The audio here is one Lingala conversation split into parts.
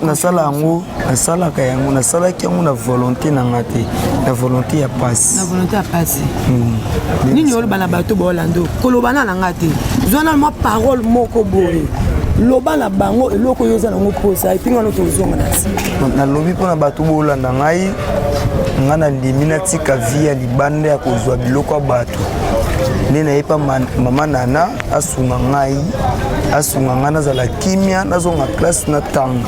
nasala yango nasalaka yango nasalaki yango na volonté na nga te na volonté ya pasi hmm. nini oloba na bato baolando koloba na na nga te zwana mwa parole moko boye loba na bango eloko oyo oza nango mposa epi ngano tozonga na nsima nalobi mpo na bato bolanda ngai ngai nandimi natika vi ya libanda ya kozwa biloko ya bato nde nayepa mama nana asunga ngai asunga ngai nazala kimia nazonga classe na tanga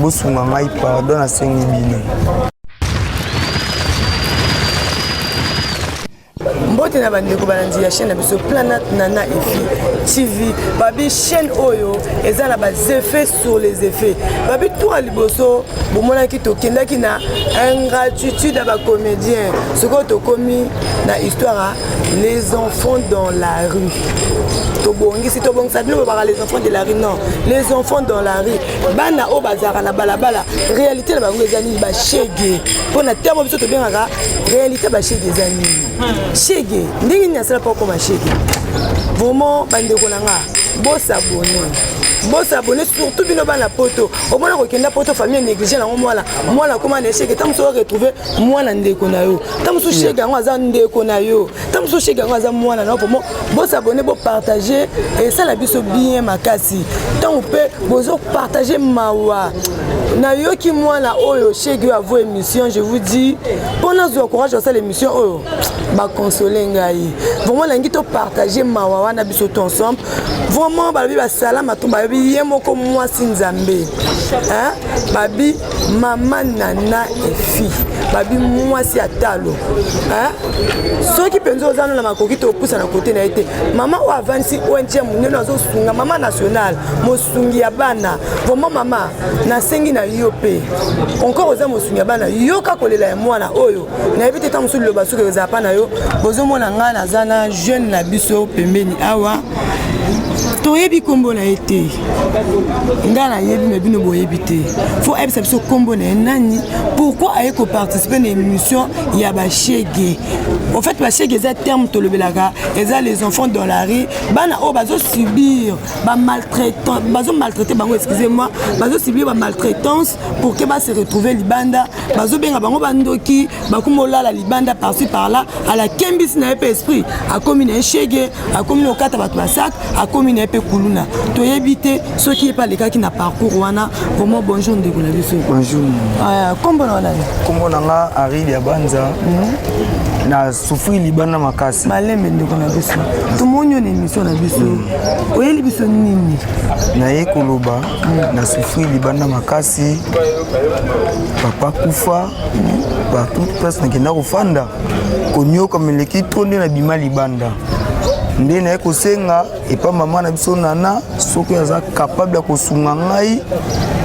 bosunga ngai pardon nasengi bino mbote na bandeko balandi ya chaîne na biso planat nana efi tv babi chaîne oyo eza na baeffet sur les effets babi tour liboso bomonaki tokendaki na ingratitude ya bacomédien sikoyo tokomi na histoire ya les enfants dans la rue tobongisi tobongisa bino babaka les enfants de la rue non les enfants dans la rue bana oyo bazalaka na balabala réalité na bango eza nini bashege mpo na ntango biso tobengaka réalité bashege eza nini hmm. shege ndenge nini asala mpo akoma shege vraiment bandeko na nga bosabone bosa abone surtout bino bana poto omona kokenda poto famille néglige nango mwana mwana akoma na echec ntango mosusu oretrouve mwana ndeko na yo ntango mosusu shege yango aza ndeko na yo ntango mosusu shege yango aza mwana na yo pomo bosa abone bopartage esala biso bien makasi ntango mpe bozopartage mawa nayoki mwana oyo shege oyo avo émission je vous dis mpo nazwa courage asala émission oyo bakonsole ngai vraiment nalingi topartage mawa wana biso to ensemble vraiment balobi basala matomba balobi ye moko mwasi nzambe babi mama nana efi babi mwasi ya talo soki mpenza oza no na makoki te opusana kote na ye te mama oyo avandisi ong ya monene azosunga mama nationale mosungi ya bana vraimen mama nasengi na yo mpe encore oza mosungi ya bana yoka kolela ya mwana oyo nayebi te ntango mosusu liloba soki eza pa na yo bozomona ngai naza na jeune na biso pembeni awa toyebi nkombo na ye te ngai nayebi me bino boyebi te fo ayebisa biso nkombo na ye nani pourkui aye koparticipe na émission ya bashege au fait bashege eza terme tolobelaka eza les enfants dans la rue bana oyo bazosubir bazomaltraite bango excusez moi bazosubir bamaltraitance pour que base retrouver libanda bazobenga bango bandoki bakoma olala libanda parci par là alakembisi na ye mpe esprit akomi na ye shege akomi na kokata bato ya sak akomi na ye mpe kuluna toyebi te soki ye mpe alekaki na parcours wana vraiment bonjour ndeko na biso bonjour ah, kombo na wana kombo na nga aril ya banza mhm. na sufri libanda makasi malembe ndeko na biso tomoni yo na émission na biso oyeli biso nini naye koloba na souffrir libanda makasi papa kufa partout place nakenda kofanda konyoka meleki to nde nabima libanda nde naye kosenga epa mama na biso nana soki aza kapable ya kosunga ngai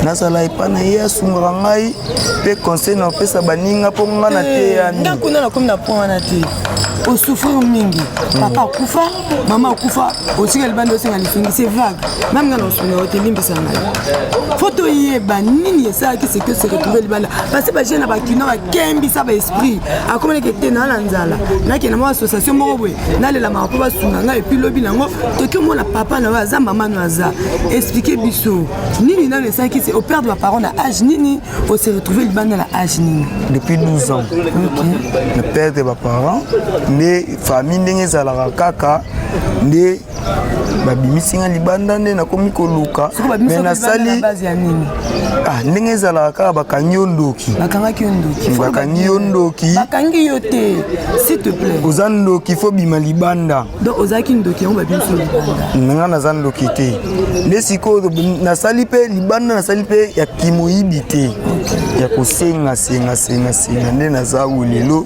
nazala epa na ye asungaka ngai mpe conseil na kopesa baninga mpo ngai nateyami eh, ndako na nakomi na point wana te osufrir mingi papa akufa mama okufa otika libanda osenga lisungi se vague meme nga na osunga yo te limbisa ngai fo toyeba nini esalaki seke se retrouve libanda parce baje na bakino bakembisa baesprit akomaneke te naa na nzala nakenda mwa association moko boye nalelamaka mpo basunga ngai epuis lobi nango toki omona papa na yo aza mama no aza explike biso nini nano esalaki se operde baparent na age nini ose retrouve libanda na age nini depuis 12 ans okay. na perdre baparent nde famille ndenge ezalaka kaka nde babimisi nga libanda nde nakomi koluka me nasali ah, ndenge ezalaka kaka bakangi yo ndoki bakangi yo ndoki oza ndoki fo bima libanda nga naza ndoki te nde sikoyo nasali mpe libanda nasali mpe ya kimoyibi te ya kosenga senga senga senga nde naza oyo lelo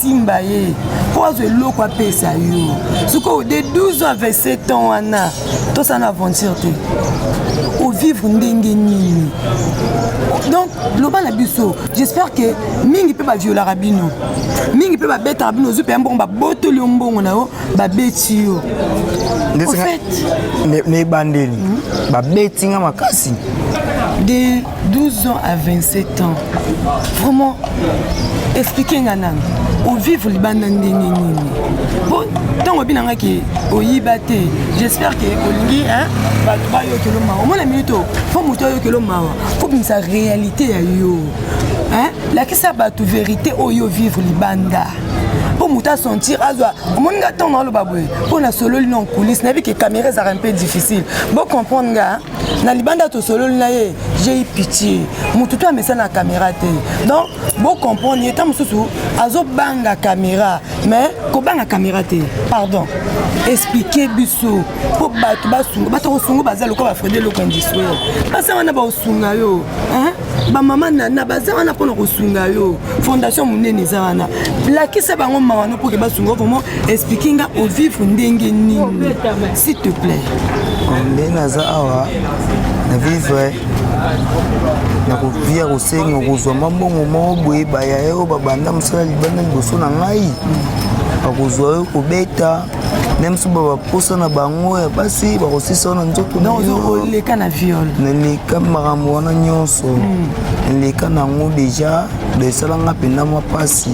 simba ye mpo azwa eloko apesa yo sikoyo de 12 à 27 ans wana tosala na aventure te ovivre ndenge nini donc loba na biso j'espère que mingi mpe baviolaka bino mingi mpe babetaka bino ozwi mpenza mbongo babotoli yo mbongo na yo babeti yo na ebandeli babeti nga makasi 12 ans à 27 ans vraiment explike nga nanu ovivre libanda ndenge nini po ntango obi na ngai ke oyiba te j'espère ke olingi bato bayokelo mawa omona minute oyo fo moto ayokelo mawa fo bimisa réalité ya yo lakisa bato verité oyo vivre libanda mpo moto asentir azwa omoni nga ntango aloba boye mpo nasololi na coulisse nayebi ke caméra ezalaka mpe difficile bocomprendre nga na libanda tosololi na ye j'ai pitié motu to amesana na caméra te donc bocomprendre ye ntango mosusu azobanga caméra mais kobanga caméra te pardon explike biso mpo bato basunga bato kosunga baza lokola bafrede eloko industriel basangana baosunga yo bamama nana baza wana mpona kosunga yo fondation monene eza wana lakisa bango mawa no mpoke basunga vraimen explike nga ovivre ndenge nini s'il te plaît nde naza awa na vivre na vie ya kosenga kozwa mwa mbongo moko boye baya yo babanda mosala libanda liboso na ngai bakozwa yo kobeta meme so baposa na bango ya basi bakosisa wana nzoto oleka na viol naleka makambo wana nyonso hmm. naleka na yango deja esala nga mpenza mwa mpasi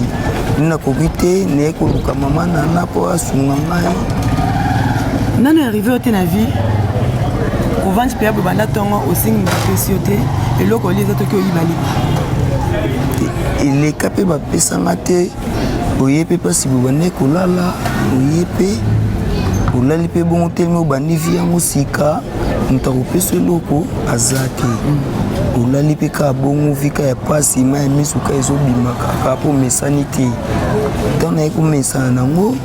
nakoki te naye koluka mama nana mpo asunga ngai nano arrive yo te na vie kovandi mpe yabo banda ntongo osengi bapesi yo te eloko oli eza toki oyiba liba eleka mpe bapesanga te oye mpe mpasi bobandaki kolala oye mpe olali mpe bongo telema obandi vi yango sika moto akopesa eloko aza te olali mpe kaka bongo vika ya mpasi ma ya miso ka ezobima kaka mpo omesani te ntango naye komesana nango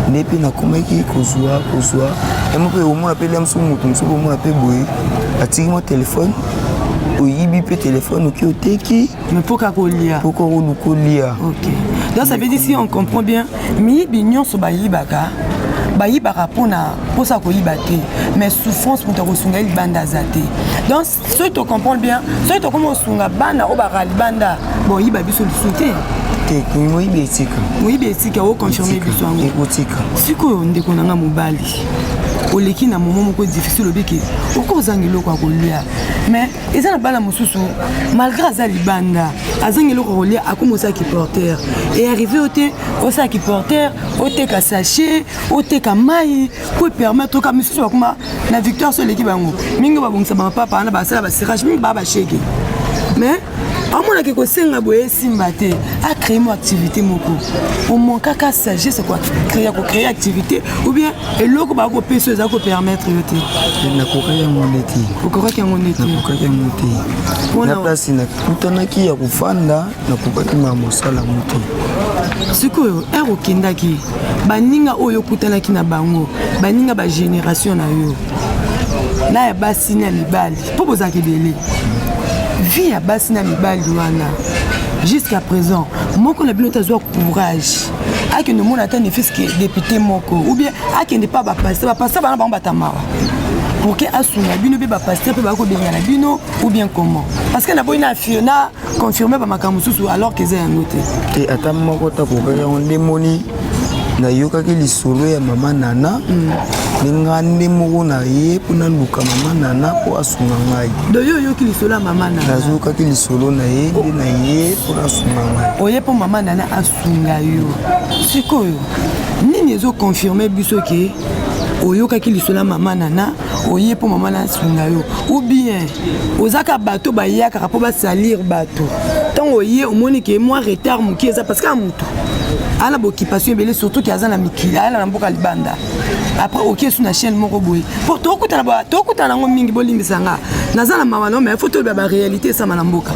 nde mpe nakomaki kozwa kozwa yango mpe omona mpe lia mosusu moto mosusu omona mpe boye atiki mwa telefone oyibi mpe telefone oki oteki Mais pour Kakolia. Pour Kakolia. Ok. Donc ça veut dire si on comprend bien, miyibi nyonso bayibaka bayibaka mpona mposa ya koyiba te mais souffrance moto akosunga ye libanda aza te donc soki tocomprendre bien soki tokomi kosunga bana oyo baka libanda boyiba biso lisusu te te moyibi etika moyibi etika oconfirme biso yango ekotika sikoyo ndeko na nga mobali oleki na momo moko difficile olobi ke okozanga eloko ya kolia mais eza na bana mosusu malgré aza libanda azangi eloko kolia akoma osala kiporter earrive yo te osala kiporter oteka sachet oteka mai po epermettre oka misusu bakoma na victoire so eleki bango mingi babongisa bamapapa wana basala basirage mingi baa bashege mais amonaki kosenga boye esimba te acree mo activité moko omankaka sagesse ya kocree activité ou bien eloko bakopesa oyo eza kopermettre yo te nakokaki yango nde te okokaki yango nde te nakokaki yango te na place nakutanaki ya kofanda nakokaki ma mosala yango te sikoyo ere okendaki baninga oyo okutanaki na bango baninga bagénération na yo na ya basi na mibali mpo bozalaka ebele vie ya basi na mibali wana jusqu'à présent moko na bino te azwa courage akende omona ata nefiske depute moko ou bien akende mpa bapaster bapaster bana bango batamara pour que asunga bino mpe bapaster mpe bakobengana bino ou bien comment parce que naboyi na fiona confirme bamakambo mosusu alors keza yango te te ata moko takokaki yango nde moni nayokaki lisolo ya mama nana nde nga nde moko na ye mpo naluka mama nana mpo asunga ngai doyo oyoki lisolo ya mama nana nazokaki lisolo na ye nde na ye mpo nasunga ngai oye mpo mama nana finga yo sikoyo nini ezo confirme biso ke oyokaki lisolo ya mama nana oye mpo mama nana asunga yo ou bien ozaka bato bayakaka mpo basalire bato ntango oye omoni ke mwa retard moke eza parce que motu ana bokippation ebele surtout ke aza na mikili ayala na mboka libanda après oke su na chaîne moko boye mpo tokutana yango mingi bolimbisa nga naza na mawa nao mai fo toloba baréalité esama na mboka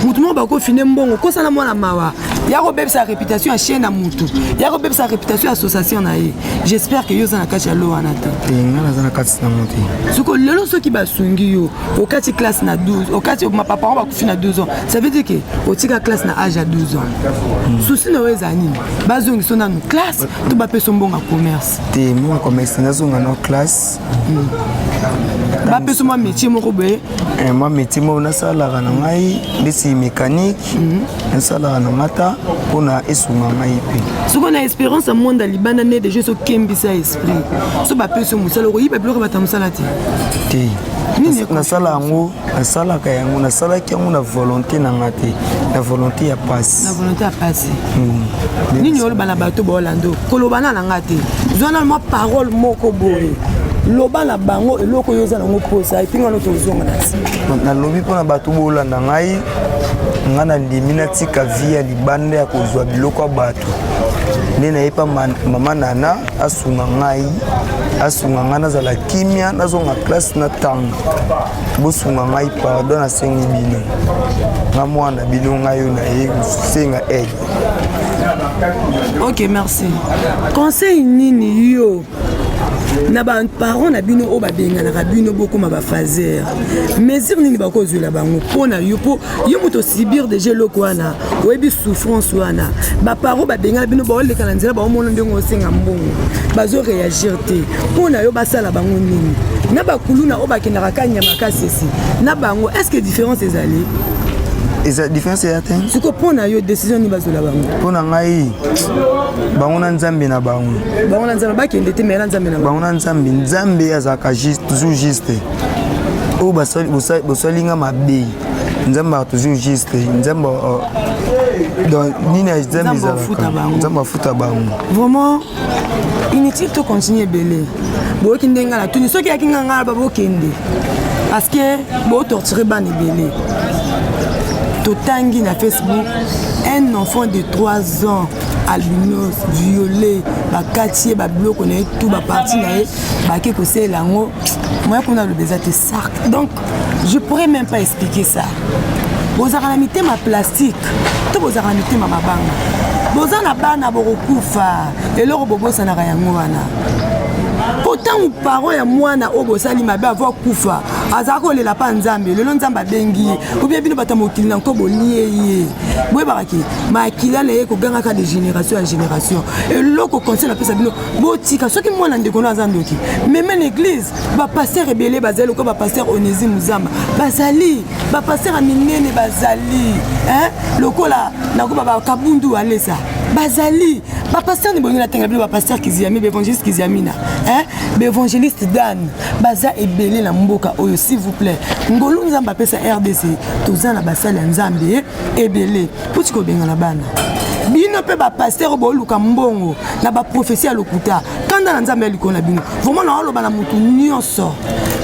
motu moko bakofine mbongo kosala mwana mawa ya kobebisa réputation ya chaine ya mutu ya kobebisa réputation ya association na ye j'espère que yo oza na kati ya lo wana te eh, nga naza na kati na mote soko lelo soki basungi yo okati classe na 12 okati baparent bakufi na 12 ans ça veut dire ke otika classe na age ya 12 ans hmm. souci na yo eza nini bazongiso nanu classe to bapeso mbongo ya commerce te mbongo commerce nazonga na classe bapesa mwa métier moko boye eh, mwa métier moko nasalaka na ngai ndesi mécanique mhm. nasalaka na ngai ta mpo na esunga ngai mpe soko na espérance ya monde ya libanda nde deja so okembisa esprit so bapesi mosala okoyiba biloko bata mosala te te nasala yango nasalaka yango nasalaki yango na volonté na nga te na volonté ya pasi na volonté ya pasi mm. nini oloba na bato baolando koloba na na nga te zwa na mwa parole moko boye loba na bango eloko oyo oza nango mposa epi ngano tozonga na nsima nalobi mpo na bato bolanda ngai ngai nandimi natika vi ya libanda ya kozwa biloko ya bato nde nayepa mama nana asunga ngai asunga ngai nazala kimia nazonga classe na tanga bosunga ngai pardon nasengi bino nga mwana bino ngai yo na ye kosenga aide ok merci conseil nini yo na baparent na bino oyo babenganaka bino bokoma bafaser mesure nini bakozwela bango mpo na yo mpo yo moto osibir deja eloko wana oyebi souffrance wana baparent babengana bino baoleka na nzela baomona ndenge osenga mbongo bazo réagir te mpo na yo basala bango nini na bakuluna oyo bakendaka kanya makasi esi na bango est ce que différence ezali eza différence eya te siko mpo na yo décision nini bazwela bango mpo na ngai bango na nzambe na bango bango na nzambe bakende te mai na nzambe na bango na nzambe nzambe azalaka toujours juste oyo bosali nga mabe nzambe a toujours juste nzambe euh, donc nini nzambe ezalaka nzambe afuta bango vraiment inutile to continue ebele boyoki ndenge nga na tuni soki yaki nga nga babokende parce que botorture bana ebele totangi na facebook un enfant de 3 ans albinos viole bakati ye babiloko na ye tu baparti na ye bake kosalela yango moya kuna aloba eza te Sark. Donc, je pourrais même pas expliquer ça. bozalaka na mitema plastique to bozalaka na mitema mabanga boza na bana bokokufa eloko bobosanaka yango wana mpo ntango paro ya mwana oyo bosali mabe avo akufa azalaka kolela mpa nzambe lelo nzambe abengi ye obie bino bato ya mokili na nko bolie ye boyebaka ke makila na ye kogangaka de génération ya génération eloko conseil napesa bino botika soki mwana ndeko no aza ndoki meme na eglize bapaster ebele bazali lokola bapaster onesi muzamba bazali bapaster ya minene bazali lokola nakoba bakabundu alesa bazali bapaster ni bolingi natanga bino bapaster kiziami baevangeliste kiziamina baevangeliste dane baza ebele na mboka oyo s'il vous plaît ngolu nzambe apesa rdc toza na basali ya nzambe ebele puti kobengana bana bino mpe bapastere boluka mbongo na baprofesi ya lokuta kanda na nzambe ya likolo na bino vraimen naoloba na motu nyonso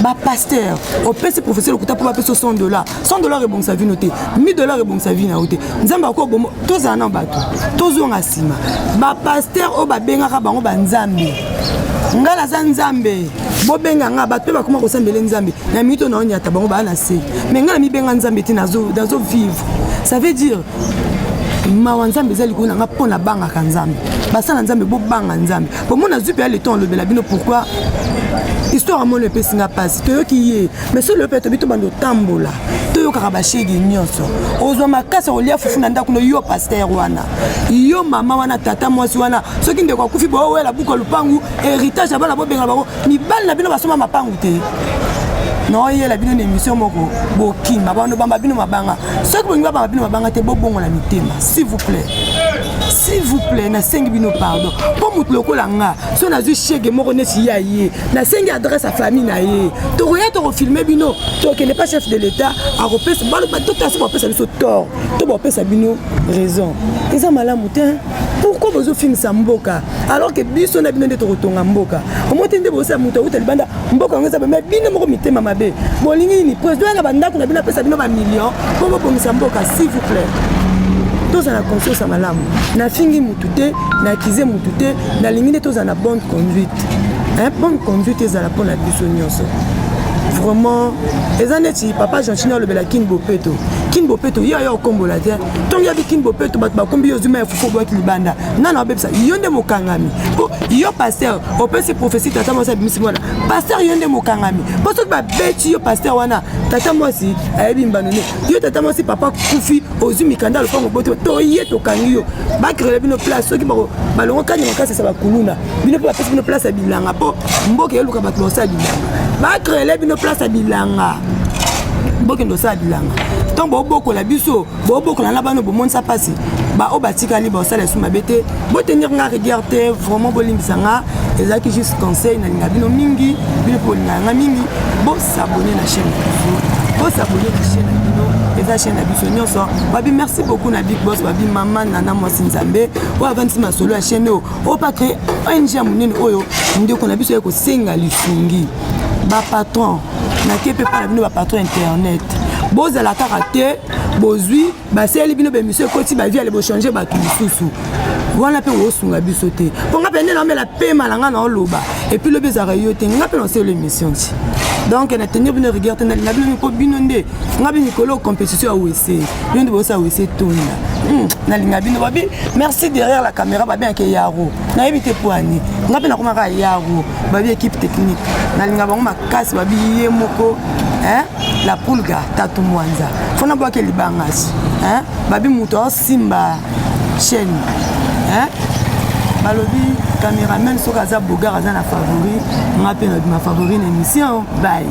bapastere opesi profesi lokuta mpo bapesa 100 dollar 100 dollar ebongisa vino te 1000 dollar ebongisa vino yango te nzambe akoki obomo tozala na bato tozonga nsima bapastere oyo babengaka bango banzambe ngai naza nzambe bobenga nga bato mpe bakoma kosambele nzambe na mito na onyata bango baa na se me nga na mibenga nzambe te nazo vivre ça veut dire mawa nzambe eza likolo na nga mpo nabangaka nzambe basala nzambe bobanga nzambe bomo nazwi mpe ya leton olobela bino pourkui histoire ya mono epesi nga mpasi toyoki ye mai solo yo mpe tobi tobanda otambola toyokaka bashege nyonso ozwa makasi olia fufu na ndako no yo paster wana yo mama wana tata mwasi wana soki ndeko akufi boowela buka lupangu héritage ya bana bobenga bango mibali na bino basomba mapangu te naoyela bino na émission moko bokima bano bamba bino mabanga soki bolingi babamba bino mabanga te bobongola mitema s'il vous plaît s'il vous plaît nasengi bino pardon mpo moto lokola nga so nazwi shege moko neti ya ye nasengi adresse ya famille na ye tokoya tokofilme bino tokende pa chef de l'état akopesa baloba totasi bapesa biso tort to bapesa bino raison eza malamu te pourquoi bozofingisa mboka alors ke biso na bino nde tokotonga mboka omoi te nde bozosala moto awuta libanda mboka yango eza bamai bino moko mitema mabe bolingi nini président na bandako na bino apesa bino bamillion mpo bobongisa mboka s'il vous plaît tozala conscience ya malamu nafingi motu te naakize motu te nalingi nde tozala na bonne conduite bonne conduite ezala mpo na biso nyonso vraiment eza neti papa gentini alobela kin bopeto kin bopeto ye aya okombola te ntango ya bikin bopeto bato bakumbi yo zuma ya fufu oboyaki libanda nana obebisa yo nde mokangami mpo yo paster opesi profesi tata mwasi abimisi mwana paster yo nde mokangami mpo soki babeti yo paster wana tata mwasi ayebi mbano ne yo tata mwasi papa kufi ozwi mikanda lopango boti toye tokangi yo bakrele bino place soki balongo kani makasi esa bakuluna bino mpe bapesi bino place ya bilanga mpo mboka eluka bato bakosala bilanga bacrele bino place ya bilanga bokende osala bilanga ntango bobokola biso bobokola na bana bomonisa mpasi baoyo batikali basala esu mabe te botenir nga rigueur te vraiment bolimbisa nga ezalaki juste conseil nalinga bino mingi bino mpe bolingaka nga mingi bosabone na chaîne na biso bosabone na chaîne na bino eza chaîne na biso nyonso babi merci beaucoup na big boss babi mama nana mwasi nzambe oyo avandisi masolo ya chaîne oyo oyo pake ong ya monene oyo ndeko na biso ya kosenga lisungi bapatron nake mpe mpa na bino bapatron ya internet bozala kaka te bozwi basaleli bino bemisio ekoti bavi ale bochange bato mosusu wana mpe osunga biso te mpo nga mpe nde naomela pema na nga na oloba epuis lobi ezalaka yo te nga mpe naoseli emission ti donc na tenir bino rigueur te nalinga bino mpo bino nde nga bi mikolo compétition ya wese bino nde boyosa wese tonda hmm, nalinga bino babi merci derrière la caméra babi yake yaro nayebi te poani nga mpe nakomaka yaro babi équipe technique nalinga bango makasi babi ye moko la pulga tatu mwanza fona bwake libangasi babi moto Simba chaîne hein balobi cameraman soki aza bogar aza na favori nga mpe nabima favori na émission bye